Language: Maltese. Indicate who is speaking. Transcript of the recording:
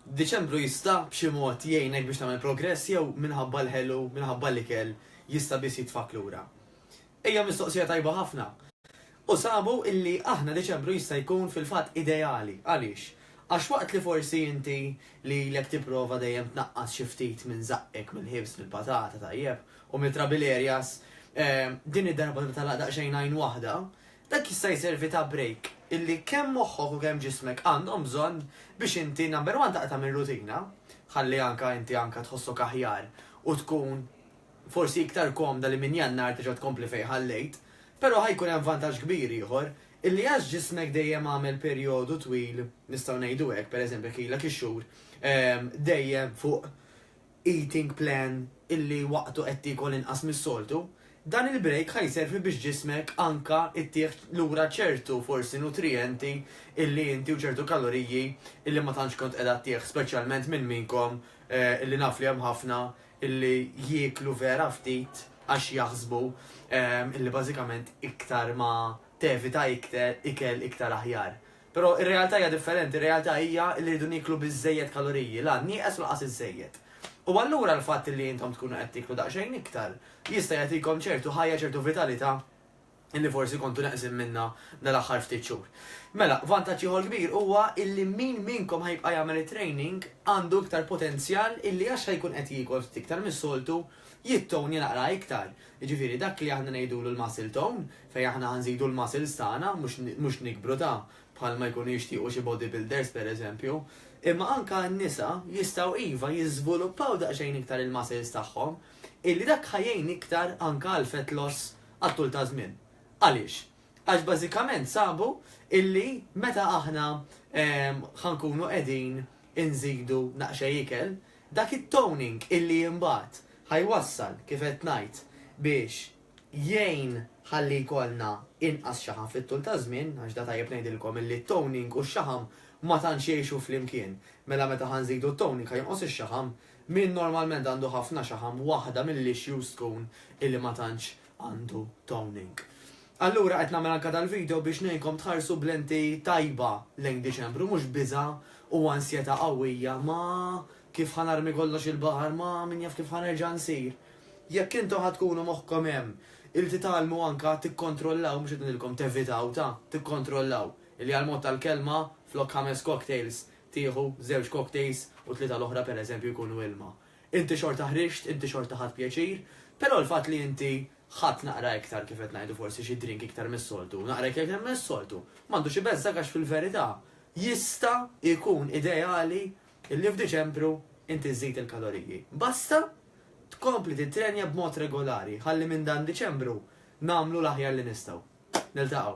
Speaker 1: Diċembru jista' b'xi mod jgħinek biex tagħmel progress jew minħabba l-ħelu, minħabba l-ikel, jista' biss jitfgħak lura? Hija mistoqsija tajba ħafna. U sabu illi aħna Diċembru jista' jkun fil-fatt ideali. Għaliex? Għax waqt li forsi inti lilek tipprova dejjem tnaqqas xi ftit minn żaqqek mill-ħibs, mill-patata, tajjeb, u mit-trabil areas, din id-darba tibtalaq daqsxejn għajn waħda, Dak jista' jservi ta' brejk illi kemm moħħok u kemm ġismek għandhom bżonn biex inti number one taqta' mir-rutina, ħalli anke inti anke tħossok aħjar u tkun forsi iktar komda li minn Jannar terġa' tkompli fejn ħallejt. Però ħa jkun hemm vantaġġ kbir ieħor, illi għax ġismek dejjem għamel perjodu twil, nistgħu ngħidu hekk, pereżempju jekk ilek ix-xhur, dejjem fuq eating plan illi waqtu qed tiekol inqas mis-soltu, dan il-break ħa jservi biex ġismek anka ittieħ lura ċertu forsi nutrijenti illi inti u ċertu kaloriji illi ma tantx kont qiegħda ttieħ speċjalment minn minnkom illi naf li hemm ħafna illi jieklu vera ftit għax jaħsbu illi bażikament iktar ma tevita ikel iktar aħjar. Però r-realtà hija differenti, r-realtà hija li rridu nieklu biżżejjed kaloriji, la nieqes u lanqas iżżejjed. U allura l-fatt li intom tkunu qed tieklu daqsxejn iktar jista' jagħtikom ċertu ħajja, ċertu vitalità li forsi kontu neqsin minnha dal-aħħar ftit xhur. Mela, vantaġġ ieħor kbir huwa illi min minnkom ħa jibqa' jagħmel it-training għandu iktar potenzjal illi għax ħa jkun qed jiekol ftit iktar mis-soltu, jittownja naqra iktar. Jiġifieri dak li aħna ngħidulu l-muscle tone, fejn aħna ħa nżidu l-muscles tagħna mhux mhux nikbru ta' bħalma jkunu jixtiequ xi body builders pereżempju. Imma anke n-nisa jistgħu iva jiżvuluppaw daqsxejn iktar il-muscles tagħhom illi dak ħa jgħin iktar anke għal fat loss għat-tul ta' żmien. Għaliex? Għax bażikament sabu illi meta aħna ħa nkunu qegħdin inżidu naqxej ikel, dak it-toning illi imbagħad ħa jwassal kif qed ngħid biex jgħin ħalli jkollna inqas xaħam fit-tul taż-żmien, għax da tajjeb ngħidilkom illi t-toning u x-xaħam ma tantx jgħixu flimkien. Mela meta ħa nżidu t-toning ħa jonqos ix-xaħam. Min normalment għandu ħafna xaħam waħda mill-issues tkun illi ma tantx għandu toning. Allura qed nagħmel anke dal-video biex ngħinkom tħarsu b'lenti tajba lejn Diċembru mhux biża' u ansjetà qawwija ma kif ħa narmi kollox il-baħar ma min jaf kif ħa nerġa' nsir. Jekk intom ħa tkunu moħħkom hemm il titgħallmu anka tikkontrollaw, mhux qed ngħidilkom tevitaw ta' tikkontrollaw, li għal mod tal-kelma flok ħames cocktails tieħu żewġ cocktails u tlieta l-oħra per eżempju jkunu ilma. Inti xorta ħriġt, inti xorta ħadt pjaċir, però l-fatt li inti ħadt naqra iktar kif qed ngħidu forsi xi drink iktar mis-soltu, naqra iktar mis-soltu, m'għandux ibezżgħek għax fil-verità jista' jkun ideali Illi f'Diċembru inti żżid il-kaloriji. Basta tkompli tittrenja b'mod regolari ħalli minn dan Diċembru nagħmlu l-aħjar li nistgħu. Niltaqgħu.